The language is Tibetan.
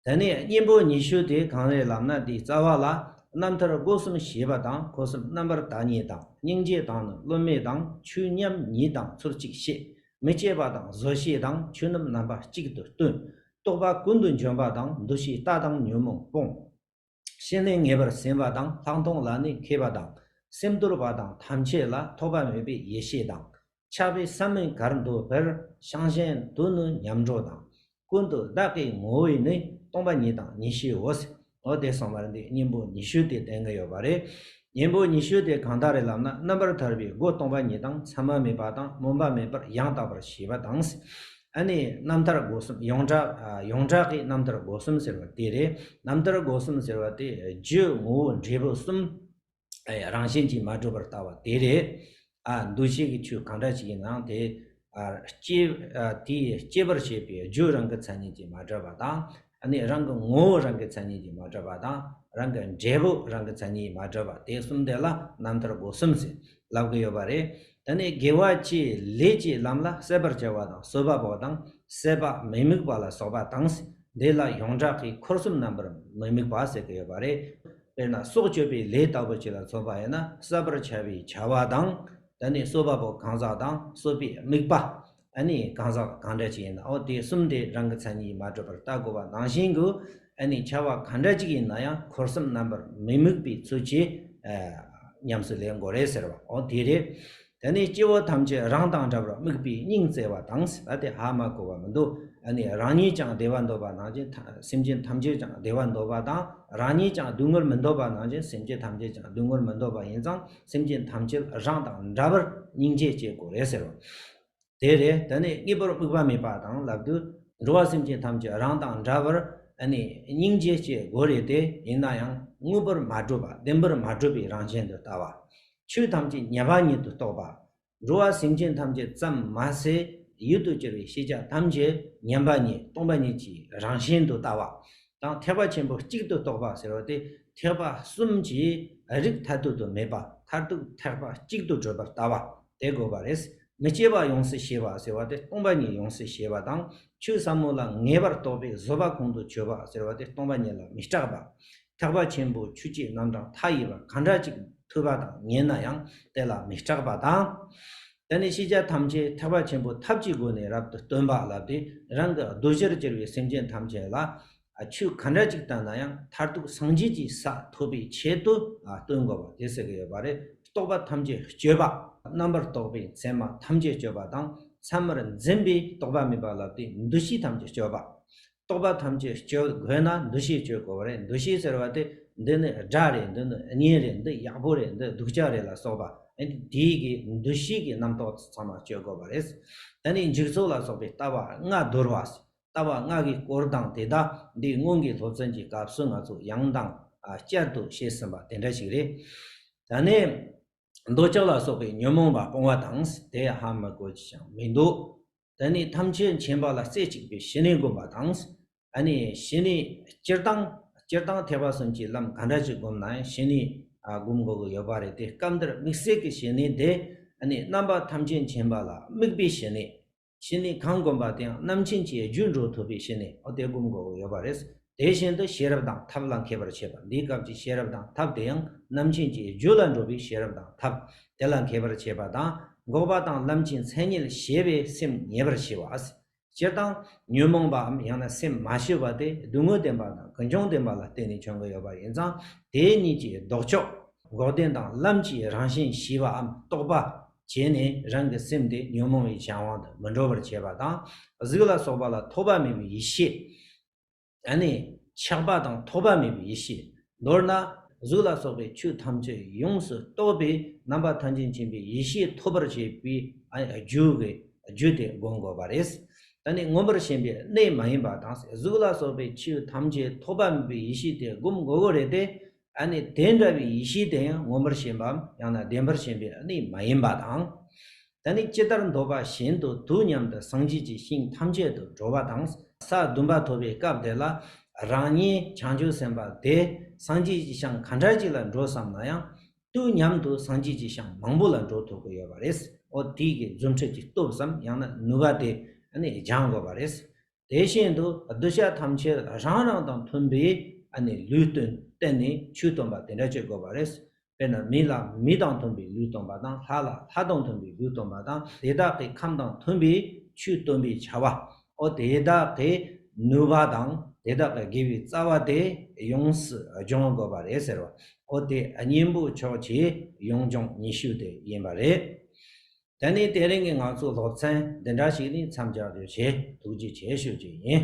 དེ་ནས་གཉེན་པོ་ཉི་ཤུ་སྟེ་གང་བའི་ལམ་ན་དེའི་རྩ་བ་ལ་རྣམ་ཐར་སྒོ་གསུམ་ཞེས་པ་དང་འཁོར་གསུམ་རྣམ་པར་དག་ཉིད་དང་སྙིང་རྗེ་དང་ནི་སློབ་མའི་དང་ཆོས་མཉམ་ཉིད་དང་ཚུར་གཅིག་ཤེས་མི་སྐྱེ་བ་དང་བཟོད་ཤེས་དང་ཆོས་རྣམས་རྣམ་པ་གཅིག་ཏུ་སྟོན། རྟོག་པ་ཀུན་ཏུ་འབྱོན་པ་དང་འདུ་ཤེས་ལྟ་དང་ཉོན་མོངས་སྤོང། ཤེས་ནས་ངེས་པར་ཟིན་པ་དང་ལྷག་མཐོང་ལ་ནི་མཁས་པ་དང། སེམས་དུལ་བ་དང་ཐམས་ཅད་ལ་ཐོགས་པ་མེད་པའི་ཡེ་ཤེས་དང། ཆགས་པའི་ས་མི་གར་འདོད་པར་ཤང་གཞན་དུ་ནི་ཉམས་འགྲོ་དང། ཀུན་ཏུ་བདག་གི་ངོ་བོས་ནི་སྟོང་པ་ཉིད་དང་ཉི་ཤུའོ། འོ་དེ་གསང་བར་འདི་སྙིང་པོ་ཉི་ཤུ་དེ་བསྟན་གྱི་ཡོད་པ་རེད། སྙིང་པོ་ཉི་ཤུ་དེ་གང་དག་རེད་ལབ་ན་རྣམ་པར་ཐར་པའི་སྒོ་སྟོང་པ་ཉིད་དང་མཚན་མ་མེད་པ་དང་སྨོན་པ་མེད་པར་ཡང་དག་པར་ཤེས་པ་དང། ཨ་ནི་རྣམ་ཐར་སྒོ་གསུམ་ཡོངས་གྲགས་ཡོངས་གྲགས་ཀྱི་རྣམ་ཐར་སྒོ་གསུམ་ཟེར་བ་དེ་རེད། རྣམ་ཐར་སྒོ་གསུམ་ཟེར་བ་དེ་རྒྱུའི་ངོ་བོ་འབྲས་བུ་གསུམ། རང་བཞིན་གྱིས་མ་གྲུབ་པར་ལྟ་བ་དེ་རེད། འདུ་བྱེད་ཀྱི་ཆོས་གང་འདྲ་ཞིག་ཡིན་ནའང་དེ། དེའི་སྐྱེད་པར་བྱེད་པའི་རྒྱུ་རང་གི་མཚན་ཉིད་ཀྱིས་མ་གྲུབ་པ་དང། ནི་རང་གི་ངོ་བོ་རང་གི་མཚན་ཉིད་ཀྱིས་མ་གྲོལ་བ་དང་རང་གི་འབྲས་བུ་རང་གི་མཚན་ཉིད་མ་གྲོལ་བ་དེ་གསུམ་དེ་ལ་རྣམ་ཐར་སྒོ་གསུམ་ཟེར། ལབ་ཀྱི་ཡོད་པ་རེད། དེ་ནི་དགེ་བ་བཅས་ལས་ཀྱི་ལམ་ལ་གསལ་བར་བྱ་བ་དང་གསོལ་བ་བོ་དང་གསད་པ་མི་དམིགས་པ་ལ་སོགས་པ་དང། དེ་ལ་ཡོངས་གྲགས་ཀྱི་འཁོར་གསུམ་རྣམ་པར་མི་དམིགས་པ་ཟེར་གྱི་ཡོད་པ་རེད། དཔེར་ན་སྲོག་གཅོད་པའི་ལས་ལྟ་བུ་ཅིག་ལ་ཚོགས་པ་ཡོད་ན་གསད་པར་བྱ་བའི་བྱ་བ་དང། དེ་ནི་གསོལ་བ་པོ་གང་ཟག་དང་གསོད་པའི་དམིགས་པ། ཨ་ནི་གང་ཟག་དང་གང་འདྲ་ཅིག་ཡིན་ནའོ་དེ་གསུམ་དེ་རང་གི་མཚན་ཉིད་མ་གྲུབ་པར་བལྟ་དགོས་པ་ནང་བཞིན་དུ་ཨ་ནི་བྱ་བ་གང་འདྲ་ཅིག་ཡིན་ན་ཡང་འཁོར་གསུམ་རྣམ་པར་མི་དམིགས་པའི་ཚུལ་གྱིས་ཉམས་སུ་ལེན་དགོས་རེད་ཟེར་བའོ་དེ་རེད། ད་ནི་སྐྱེ་བོ་ཐམས་ཅད་རང་དང་འདྲ་བར་དམིགས་པའི་སྙིང་བརྩེ་བ་དང་ཟེར་བ་དེ་ཧ་མ་གོ་བ་མི་འདུག་ཨ་ནི་རང་ཉིད་ཀྱང་བདེ་བ་འདོད་པ་ནང་བཞིན་སེམས་ཅན་ཐམས་ཅད་ཀྱང་བདེ་བ་འདོད་པ་དང་རང་ཉིད་ཀྱང་སྡུག་བསྔལ་མི་འདོད་པ་ནང་བཞིན་སེམས་ཅན་ཐམས་ཅད་ཀྱང་སྡུག་བསྔལ་མི་འདོད་པ་ཡིན་ཙང་སེམས་ཅན་ཐམས་ཅད་རང་དང་འདྲ་བར་སྙིང་རྗེ་སྐྱེ་དགོས་རེད་ཟེར་རོ། དེ་རེད་དེ་ནས་གཉིས་པར་དམིགས་པ་མེད་པ་དང་ལབ་དུས་འགྲོ་བ་སེམས་ཅན་ཐམས་ཅད་རང་དང་འདྲ་བར་སྙིང་རྗེ་སྐྱེ་དགོས་རེད་དེ་ཡིན་ན་ཡང་དངོས་པོར་མ་གྲུབ་པ་བདེན་པར་མ་གྲུབ་པའི་རང་བཞིན་དུ་ལྟ་བ། ཆོས་ཐམས་ཅད་ཉེས་པ་ཉིད་དུ་རྟོགས་པ། འགྲོ་བ་སེམས་ཅན་ཐམས་ཅད་ཙམ་མ་ཟད་ཡུལ་དུ་གྱུར་པའི་ཤེས་བྱ་ཐམས་ཅད་མཉམ་པ་ཉིད་སྟོང་པ་ཉིད་ཀྱི་རང་བཞིན་དུ་ལྟ་བ་དང་ཐེག་པ་ཆེན་པོ་གཅིག་ཏུ་རྟོགས་པ་ཟེར་བ་སྟེ་ཐེག་པ་གསུམ་གྱི་རིགས་མཐར་ཐུག་ཏུ་མེད་པ་མཐར་ཐུག་ཐེག་པ་གཅིག་ཏུ་བགྲོད་པར་ལྟ་བ་དེ་དགོས་པ་རེད། མི་སྐྱེ་བ་ཡོངས་སུ་ཤེས་པ་ཟེར་བ་སྟེ་སྟོང་པ་ཉིད་ཡོངས་སུ་ཤེས་པ་དང་ཆོས་ཟབ་མོ་ལ་ངེས་པར་རྟོགས་པའི་བཟོད་པ་ཁོང་དུ་ཆུད་པ་ཟེར་བ་སྟེ་སྟོང་པ་ཉིད་ལ་མི་སྐྲག་པ་ཐེག་པ་ཆེན་པོའི་ཆུ་སྐྱེས་རྣམ་གྲངས་མཐའ་ཡས་པ་གང་དྲག་ཅིག་ཐོས་པ་དང་ཉན་ན་ཡང་དེ་ལ་མི་སྐྲག་པ་དང། དེ་ནས་ཤེས་བྱ་ཐམས་ཅད་ཐེག་པ་ཆེན་པོའི་ཐབས་ཀྱི་སྒོ་ནས་རབ་ཏུ་སྟོན་པ་ལབ་སྟེ་རང་གི་གདུལ་བྱར་གྱུར་པའི་སེམས་ཅན་ཐམས་ཅད་ལ་ཆོས་གང་དྲག་ཅིག་བསྟན་ན་ཡང་མཐར་ཐུག་སངས་རྒྱས་ཀྱི་ས་ཐོབ་པའི་ཆེད་དུ་སྟོན་དགོས་པ་དེ་ཟེར་གྱི་ཡོད་པ་རེད། རྟོག་པ་ཐམས་ཅད་གཅོད་པ། རྣམ་པར་རྟོག་པའི་མཚན་མ་ཐམས་ཅད་གཅོད་པ་དང་མཚན་མར་འཛིན་པའི་རྟོག་པ་མེད་པ་ལབ་སྟེ་འདུ་ཤེས་ཐམས་ཅད་གཅོད་པ། རྟོག་པ་ཐམས་ཅད་སྐྱེ་བོ་དགོས་ན་འདུ་ཤེས་སྤྱོད་དགོས་པ་རེད་འདུ་ཤེས་ཟེར་བ་དེ་འདི་ནི་དགྲ་རེད་འདི་ནི་གཉེན་རེད་འདི་ཡག་པོ་རེད་འདི་སྡུག་ཅག་རེད་ལ་སོགས་པ་ཨ་ནི་དེ་ཡི་གེ་འདུ་ཤེས་ཀྱི་རྣམ་རྟོག་ཚང་མ་སྤྱོད་དགོས་པ་རེད། ད་ནི་འཇིག་ཚོགས་ལ་སོགས་པའི་ལྟ་བ་ལྔ་བསྡུར་བ། ལྟ་བ་ལྔ་གི་སྐོར་དང་དེ་དག་འདི་སྔོན་གྱི་སློབ་ཚན་གྱི་སྐབས་སུ་ང་ཚོ་ཡང་དང་བསྐྱར་དུ་བཤད་ཟིན་པ་དེ་འདྲ་ཞིག་རེད། ད་ནི་འདོད་ཆགས་ལ་སོགས་པའི་ཉོན་མོངས་པ་སྤོང་བ་དང་དེའི་ཧ་མི་གོ་ཅི་ཞིག་ཀྱང་མི་འདུག་དེ་ནས་ཐམས་ཅད་མཁྱེན་པ་ལ་རྩེ་གཅིག་པའི་ཞི་གནས་བསྒོམ་པ་དང། ཞི་གནས་སྤྱིར་བཏང་སྤྱིར་བཏང་ཐེག་པ་གསུམ་གྱི་ལམ་ག་འདྲ་ཞིག་བསྒོམ་ན་ཡང་ཞི་གནས་བསྒོམ་དགོས་ཀྱི་ཡོད་པ་རེད་དེ་སྐབས་འདིར་དམིགས་བསལ་གྱི་ཞི་གནས་དེ་རྣམ་པ་ཐམས་ཅད་མཁྱེན་པ་ལ་དམིགས་པའི་ཞི་གནས། ཞི་གནས་གང་བསྒོམ་པ་དེའང་རྣམ་མཁྱེན་གྱི་རྒྱུད་འགྲོ་ཐུབ་པའི་ཞི་གནས་དེ་བསྒོམ་དགོས་ཀྱི་ཡོད་པ་རེད། དེ་བཞིན་དུ་ཤེས་རབ་དང་ཐབས་ལ་མཁས་པར་བྱེད་པ་འདིའི་སྐབས་ཀྱི་ཤེས་རབ་དང་ཐབས་དེ་ཡང་རྣམ་མཁྱེན་གྱི་རྒྱུད་ལ་འགྲོ་བའི་ཤེས་རབ་དང་ཐབས་དེ་ལ་མཁས་པར་བྱེད་པ་དང་འགོག་པ་དང་ལམ་གྱི་མཚན་ཉིད་ཤེས་པའི་སེམས་ངེས་པར་བྱེད་པ། སྤྱིར་བཏང་ཉོན་མོངས་པའམ་ཡང་ན་སེམས་མ་ཞི་བ་དེ་སྡུག་བསྔལ་བདེན་པ་དང་ཀུན་འབྱུང་བདེན་པ་ལ་བརྟེན་ནས་བྱུང་གི་ཡོད་པ་ཡིན་ཙང་དེ་གཉིས་ཀྱི་ལྡོག་ཕྱོགས། འགོག་བདེན་དང་ལམ་གྱི་རང་བཞིན་ཞི་བའམ་རྟོགས་པ། བྱས་ནས་རང་གི་སེམས་དེ་ཉོན་མོངས་པའི་གཞན་དབང་དུ་མི་འགྲོ་བར་བྱེད་པ་དང་གཟུགས་ལ་སོགས་པ་ལ་ཐོགས་པ་མེད་པའི་ཡེ་ཤེས། ད་ནི་ཆགས་པ་དང་ཐོགས་པ་མེད་པའི་ཡེ་ཤེས་མདོར་ན་གཟུགས་ལ་སོགས་པའི་ཆོས་ཐམས་ཅད་ཡོངས་སུ་རྟོགས་པའི་རྣམ་པ་ཐམས་ཅད་མཁྱེན་པའི་ཡེ་ཤེས་ཐོབ་པར་བྱེད་པའི་རྒྱུ་གི་རྒྱུ་དེ་བསྒོམ་དགོས་པ་རེད། ད་ནི་མངོན་པར་ཞེན་པའི་གནས་མ་ཡིན་པ་དང་གཟུགས་ལ་སོགས་པའི་ཆོས་ཐམས་ཅད་ཐོགས་པ་མེད་པའི་ཡེ་ཤེས་དེ་བསྒོམ་དགོས་པོ་རེད་དེ། ཡང་ནི་དེ་འདྲ་བའི་ཡེ་ཤེས་དེ་ཡང་མངོན་པར་ཞེན་པའམ་ཡང་ན་བདེན་པར་ཞེན་པའི་གནས་མ་ཡིན་པ་དང། ད་ནི་ཅི་ལྟར་འདོད་པ་བཞིན་དུ་དུས་མཉམ་དུ་སངས་རྒྱས་ཀྱི་ཞིང་ཐམས་ཅད་དུ་འགྲོ་བ་དང། ས་བདུན་པ་ཐོབ་པའི་སྐབས་དེ་ལ་རང་ཉིད་བྱང་ཆུབ་སེམས་དཔའ་དེ་སངས་རྒྱས་ཀྱི་ཞིང་ག་འདྲ་ཅིག་ལ་འགྲོ་བསམ་ན་ཡང། དུས་མཉམ་དུ་སངས་རྒྱས་ཀྱི་ཞིང་མང་པོ་ལ་འགྲོ་ཐུབ་དགོས་ཡོད་པ་རེད། འོ་དེའི་རྫུ་འཕྲུལ་གྱི་སྟོབས་སམ་ཡང་ན་ནུས་པ་དེ་ཡང་ནི་སྦྱང་དགོས་པ་རེད། དེ་བཞིན་དུ་གདུལ་བྱ་ཐམས་ཅད་རང་རང་དང་མཐུན་པའི་ལུས་སྟོན་བསྟན་ནས་ཆོས་སྟོན་པ་དེ་འདྲ་བྱེད་དགོས་པ་རེད། དཔེར་ན་མི་ལ་མི་དང་མཐུན་པའི་ལུས་སྟོན་པ་དང་ལྷ་ལ་ལྷ་དང་མཐུན་པའི་ལུས་སྟོན་པ་དང་དེ་དག་གི་ཁམས་དང་མཐུན་པའི་ཆོས་སྟོན་པའི་བྱ་བའོ། དེ་དག་གི་ནུས་པ་དང་དེ་དག་གི་དགེ་བའི་རྩ་བ་དེ་ཡོངས་སུ་སྦྱོང་དགོས་པ་རེད་ཟེར་བའོ། དེ་གཉེན་པོ་མཆོག་ཆེ་ཡོངས་སྦྱོང་ཉི་ཤུ་དེ་ཡིན་པ་རེད། ད་ནི་དེ་རིང་གི་ང་ཚོའི་སློབ་ཚན་འདི་འདྲ་ཞིག་ནས་མཚམས་སྦྱར་དགོས་ཞེས་ཐུགས་རྗེ་ཆེ་ཞུ་རྒྱུ་ཡིན།